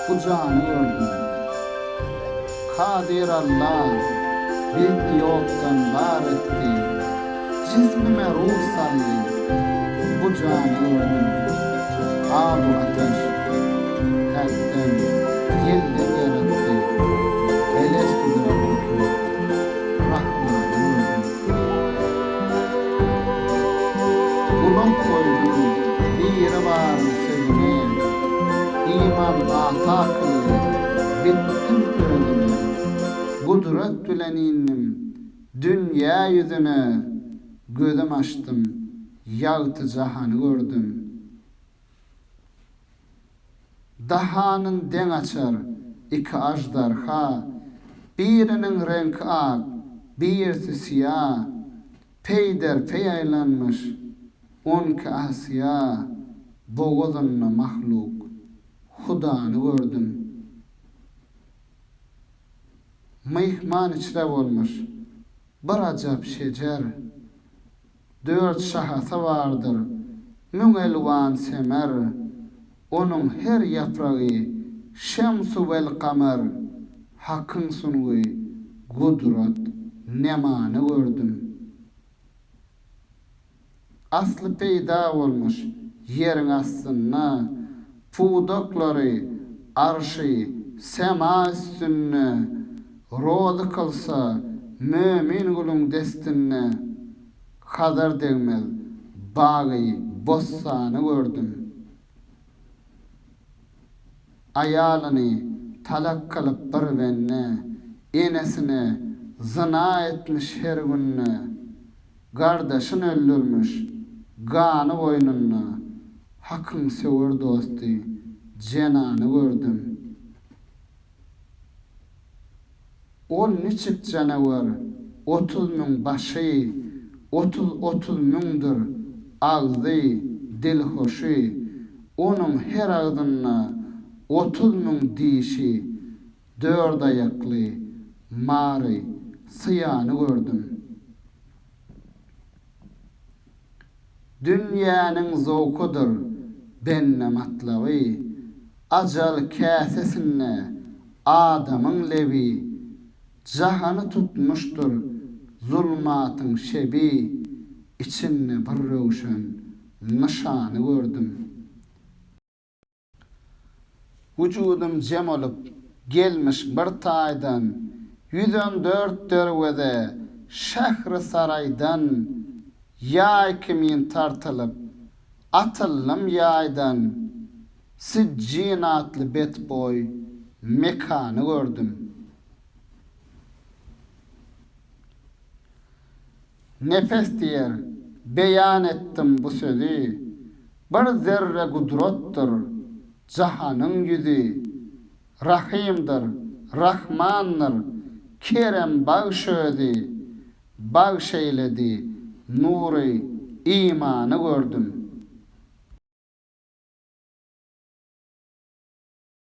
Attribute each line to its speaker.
Speaker 1: Bu jany gördüm. Kadyr Alla bizni ýokdan bar etdi. Jismime ruh saldy. Bu jany gördüm. Abu Ateş häkden, ýelden ýaratdy. Elestüdür Abdülkerim. Rahmany gördüm. Gulum goýdum Biribaryň sözüne, Iman ata akylly, bitdim özüme. Gudrat bilen indim dünýä ýüzüne, Gözüm açdym, ýagty jahany gördüm. Dahanyn deň açar iki aždarha, Biriniň reňki ak, birisi syýa, Peýder peý aýlanmyş on iki asyýa, Bogazynda mahluk Hudany gördüm. Myhman içre bolmyş bir ajap şejer, Dört şahasy bardyr, müň elwan semer, Onuň her ýapragy şems-u welkamer. Hakyň sungy, gudrat, nemany gördüm. Asly peýda bolmuş ýeriň astynda, pudaklary arşy sema üstünde rozy kylsa Mömin guluň destinde Hazar degmez bagy bossany gördüm Aýalyny talak kylyp bir bende Enesine zyna etmiş her günde Gardaşyn öldürmüş, gany goýnunda, Hakyň söwer dosty, jenany gördüm. Ol niçik janawer, otuz müň başy, Otuz otuz müňdir agzy, dilhoşy, Onuň her agzynda otuz müň dişi, Dördaýakly, mary, syýany gördüm. Dünýäniň zowkudyr bende matlaby, Ajal käsesinde adamyň lebi, Jahany tutmuşdyr zulmatyň şebi, Içinde bir röwşen nyşany gördüm. Wujudym jem olup, gelmiş bir taýdan, Ýüz on dört derweze şähri saraýdan, Ýaý kimin tartylyp, atyldym ýaýdan, Sijjin atly betboý mekany gördüm. Nepes diýer, beýan etdim bu sözi, Bir zerre gudratdyr jahanyň ýüzi, Rahymdyr, Rahmandyr, kerem bagş özi. Bagş eýledi nury imany gördüm.